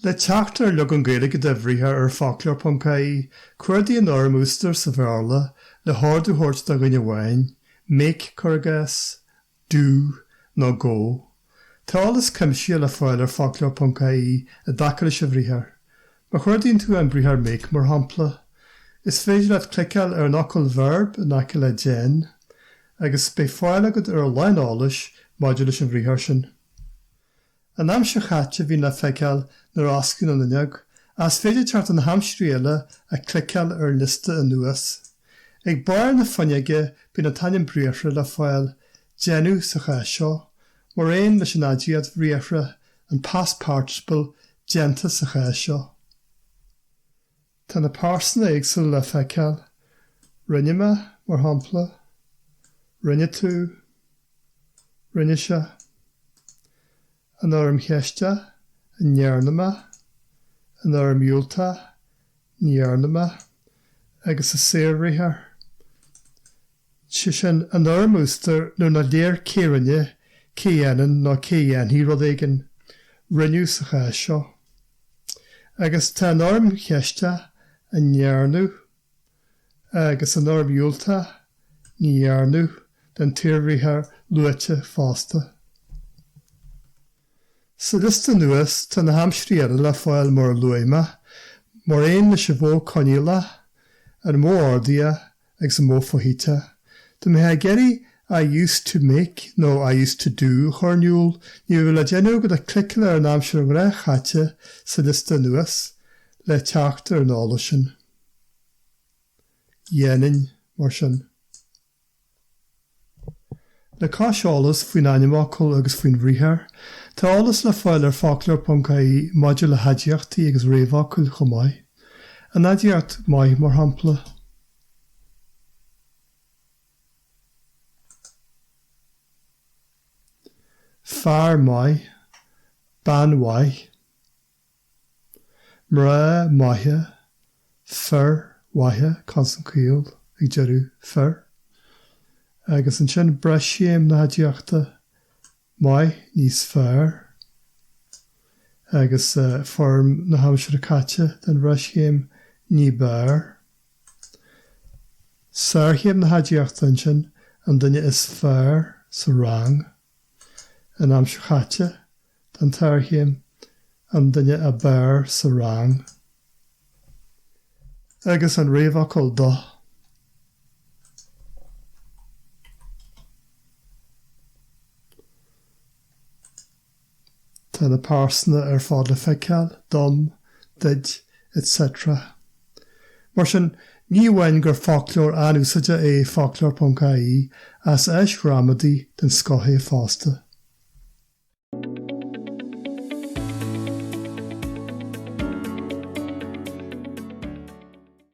Le teacht ar leagan Gaeilge de bhriathar ar Foclóir.ie, cuardaigh an fhoirm a úsáidtear sa Bhéarla le hordú a thabhairt do dhuine amháin, make, cuir i gcás, do nó go. Tá eolas cuimsitheach le fáil ar Foclóir Ponc IE i dtaca leis an bhriathar. Má chuardaíonn tú an briathar make, mar shampla, is féidir leat cliceáil ar an fhocal verb in aice le déan agus beidh fáil agat ar a lán eolais maidir leis an bhriathar sin. An aimsir chaite a bhíonn le feiceáil nuair a osclaíonn an fhuinneog, ach is féidir teacht ar na haimsirí eile ach cliceáil ar an liosta anuas. Ag barr na fuinneoige bíonn an t-ainm briathartha le fáil Déanamh, sa chás seo, mar aon leis an aidiacht bhriathartha, an past participle déanta sa chás seo. Tá na pearsana éagsúla le feiceáil, rinne mé, mar shampla, rinne tú, rinne sé. An fhoirm cheiste, An ndearna mé? An fhoirm dhiúltach, Ní dhearna mé. Agus an saorbhriathar, sé sin, an fhoirm a úsáidtear nuair nach léir cé a rinne, cé a dhéanann nó cé a dhéanfaidh rud éigin, rinneadh sa chás seo. Agus tá an fhoirm cheiste, An ndearnadh? agus an fhoirm dhiúltach ní dhearnadh den tsaorbhriathar luaite fosta. Sa liosta anuas tá na haimsirí eile le fáil mar a luaigh mé, mar aon leis an mhodh coinníollach an modh ordaitheach agus an modh foshuiteach. Dá mbeifeá ag iarraidh 'I used to make' nó 'I used to do' a chur in iúl, ní raibh le déanamh ach le cliceáil ar an aimsir ghnáthchaite sa liosta anuas le teacht ar an eolas sin. Dhéanainn, mar sin. Le cois eolas faoin ainmfhocal agus faoin bhriathar, tá eolas le fáil ar Foclóir.ie maidir le haidiachtaí agus réamhfhocail chomh maith. An aidiacht maith, mar shampla. fear maith, bean mhaith. mná maithe, fir mhaithe, consan caol ag deireadh fir, agus ansin breischéim na haidiachta, maith, níos fearr, agus foirm na haimsire caite den bhreischéim, ní b'fhearr. Sárchéim na haidiachta ansin, an duine is fearr sa rang. An aimsir chaite den tsárchéim, an duine ab fhearr sa rang agus an réamhfhocal 'do' Tá na pearsana ar fad le feiceáil, dom, duit, etc. Mar sin, ní amháin gur foclóir an-úsáideach é Foclóir.ie, ach is áis ghramadaí den scoth é fosta.